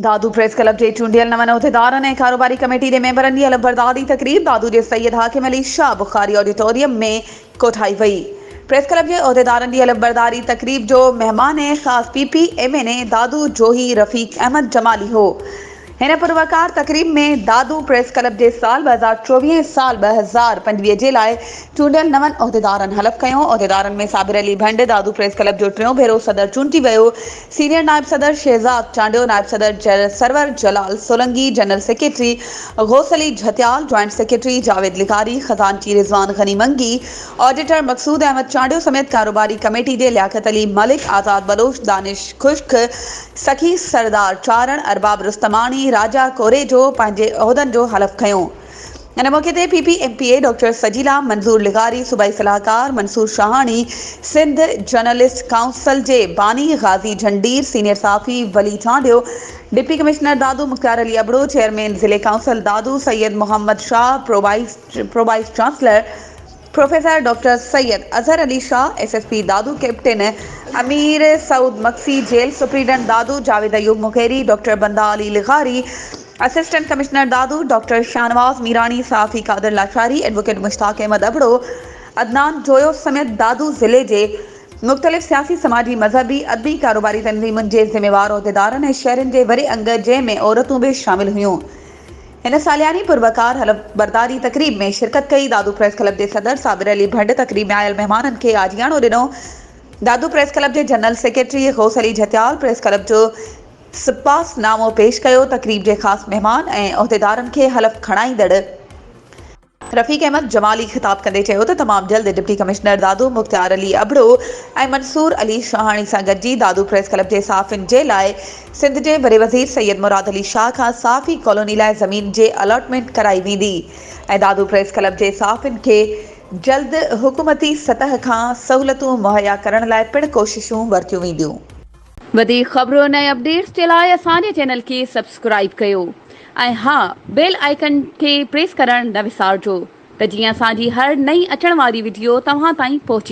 Dadu press club جي چونڊيل نون عهديدارن ۽ ڪاروباري ڪميٽي جي ميمبرن جي علمبرداري تقريب دادو جي سيد حاڪم علي شاهه بخاري آڊيٽوريم ۾ ڪوٺائي وئي. پريس ڪلب جي عهديدارن جي علمبرداري تقريب جو مهمان خاص P P M N A Dadu Johi Rafiq Ahmed Jamali هو. هن پروقار تقريب ۾ دادو پريس ڪلب جي سال ٻه هزار چوويهه ۽ سال ٻه هزار پنجويهه جي لاء چونڊيل نون عهديدارن حلف کنيو. عهديدارن ۾ صابر علي ڀنڊ دادو پريس ڪلب جو ٽيون ڀيرو صدر چونڊجي ويو. سينيئر نائب صدر شهزاد چانڊيو، نائب صدر Sarwar Jalal Solangi, general secretary Ghaus Ali Jhatial, joint secretary Javed لغاري، خزانچي رضوان غني منگي، آڊيٽر مقصود احمد چانڊيو سميت ڪاروباري ڪميٽي جي لياقت علي ملڪ، آزاد بلوچ، دانش خشڪ، سخي سردار چارڻ، ارباب رستماڻي، راجا ڪوريجو پنهنجي عهدن جو حلف کنيو. ان موقعي تي P P M P A doctor Sajila Manzoor لغاري، صوبائي صلاحڪار منصور شاهاڻي، سنڌ جرنلسٽ ڪائونسل جي باني غازي جھنڊير، سينيئر صحافي Wali Chandio, deputy commissioner Dadu Mukhtiar Ali Abro, chairman ضلعي council Dadu Syed Muhammad Shah, pro vice chancellor, professor doctor Syed Azhar Ali Shah, S S P Dadu, captain Amir Saud Magsi, jail superintendent Dadu, Javed Ayub Mugheri, doctor بنده علي لغاري، assistant commissioner Dadu, doctor Shahnawaz Mirani, صحافي قادر لاشاري، ايڊووڪيٽ مشتاق احمد ابڙو، عدنان جويو سميت دادو ضلعي جي مختلف سياسي، سماجي، مذهبي، ادبي، ڪاروباري تنظيمن جي ذميوار عهديدارن ۽ شهرين جي وري انگ جنهن ۾ عورتون به شامل هيون. هن سالياني پروقار حلف برداري تقريب ۾ شرڪت ڪئي. دادو پريس ڪلب جي صدر صابر علي ڀنڊ تقريب ۾ آيل مهمانن کي آجياڻو ڏنو. دادو پريس ڪلب جي general secretary Ghaus Ali Jhatial press club جو سپاس نامو پيش ڪيو. تقريب جي خاص مهمان ۽ عهديدارن کي حلف کڻائيندڙ. رفيق احمد جمالي خطاب ڪندي چيو ته تمام جلد ڊپٽي ڪمشنر دادو مختيار علي ابڙو ۽ منصور علي شاهاڻي سان گڏجي دادو پريس ڪلب جي صحافين جي لاء سنڌ جي وڏي وزير سيد مراد علي شاهه کان صحافي ڪالوني لاء زمين جي الاٽمينٽ ڪرائي ويندي ۽ دادو پريس ڪلب جي صحافين کي جلد حڪومتي سطح کان سهولتون مهيا ڪرڻ لاء پڻ ڪوششون ورتيون وينديون. وڌيڪ خبرن ۽ اپڊيٽس جي لاء اسان جي چينل کي سبسڪرائيب ڪيو ۽ ها بيل آئيڪن کي پريس ڪرڻ نه وسارجو ته جيئن اسان جي هر نئين اچڻ واري وڊيو توهان تائين پهچي.